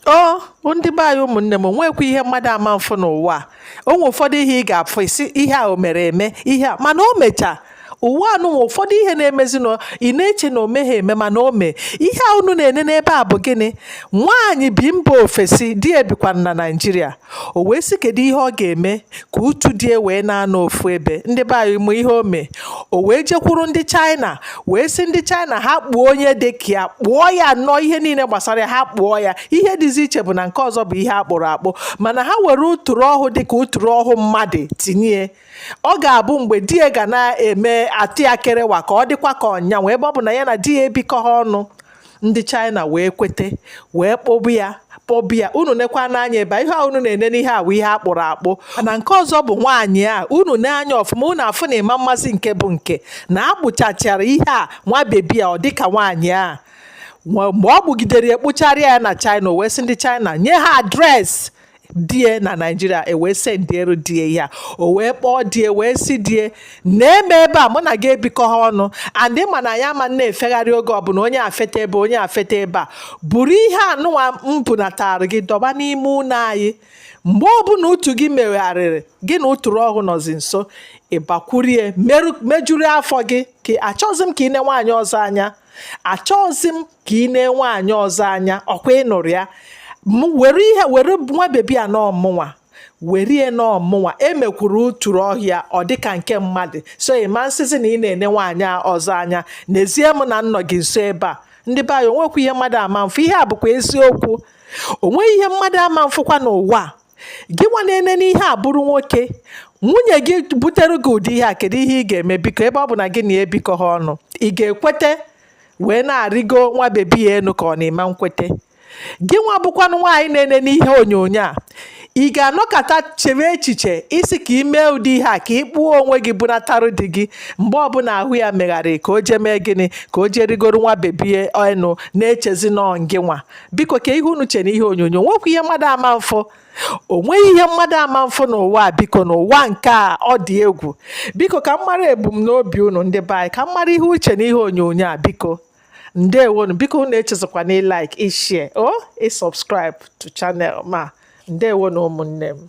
o oh, ndị be anyị ụmụnne m nwekwa ihe mmadụ ama mfụ n'ụwa o nwe ụfọdụ ihe ị ga-afụ isi ihe a o mere eme ihe a mana o mechaa ụwa anụnwa ụfọdụ ihe na-emezi na ị na-eche na o meghị eme mana o mee ihe a unu na-ene n'ebe a bụ gịnị nwaanyị bi mba ofesi di e bikwa na naijiria o wee sị kedu ihe ọ ga-eme ka utu di e wee na-anọ ofu ebe ndị be anyị ma ihe o mee o wee jekwuru ndị China wee sị ndị China ha kpụọ onye dị ka ya kpụọ ya nnọọ ihe niile gbasara ya ha kpụọ ya ihe dịzi iche bụ na nke ọzọ bụ ihe a kpụrụ akpụ mana ha were ụtụrụ ọhụ dị ka ụtụrụ ọhụ mmadụ tinye ọ ga-abụ mgbe di ya ga na-eme atụ ya kerewa ka ọ dịkwa ka ọ yanwa ebe ọ bụ na ya na di ya ebikọghị ọnụ ndị China wee kwete wee kpụba ya kpụba ya unu nekwanụ anya ebe ihe a unu na-ene n'ihe a wụ ihe a kpụrụ akpụ na nke ọzọ bụ nwaanyị a unu nee anya ọfụma unu afụ na ị ma mmazi nke bụ nke na a kpụchachara ihe a nwa bebi a ọ dịka nwaanyị a mgbe ọ kpụgidere ya kpụchara ya na China o wee sị ndị China nye ha adreesị di e na naijiria e wee sendiere di e ya o wee kpọọ di e wee sị di e na-eme ebe a mụ na gị ebikọha ọnụ andị ma na ya ama na-efegharị oge ọbụla onye afeta ebe onye afeta ebe a buru ihe anụnwa m bunatara gị dọba n'ime ụlọ anyị mgbe ọbụla utu gị megharịrị gị na ụtụrụ ọhụ nọzi nso ị bakwuru e mejuru afọ gị achọzi m ka ị nee nwaanyị ọzọ anya achọghịzi m ka ị nee nwaanyị ọzọ anya ọ kwa ị nụrụ ya were ihe were nwa bebi a na ọ mụnwa were e na ọ mụnwa e mekwuru ụtụrụ ọhụ ya ọ dịka nke mmadụ so ị ma nsịzi na ị na-ene nwaanyị ọzọ anya nezie m na m nọ gị nso ebe a ndị be anyị o nwekwa ihe mmadụ ama mfụ ihe a bụkwa eziokwu o nweghị ihe mmadụ ama mfụkwa n'ụwa gị nwa na-enene ihe a bụrụ nwoke nwunye gị butere gị ụdị ihe a kedu ihe ị ga-eme biko ebe ọ bụ na gị na ya ebikọha ọnụ ị ga-ekwete wee na-arịgo nwa bebi a enu ka ọ na ị ma nkwete gị nwa bụkwanụ nwaanyị na-enene ihe onyonyo a ị ga-anọkọta chewe echiche ị sị ka ị mee ụdị ihe a ka ị kpụọ onwe gị bunatarụ di gị mgbe ọbụla ahụ ya megharịrị ka o jee mee gịnị ka o jee rigoro nwa bebi a enu na-echezi na ọ ngị nwa biko kee ihe unu che n'ihe onyonyo o nwekwa ihe mmadụ ama mfụ o nweghị ihe mmadụ ama mfụ n'ụwa biko n'ụwa nke a ọ dị egwu biko ka m mara ebumnobi unu ndị be anyị ka m mara ihe unu che n'ihe onyonyo a biko ndewonu biko unu echezọkwana ịlaik ịshea o ịsọbskraịb to chanel m a ndewonu ụmụnne m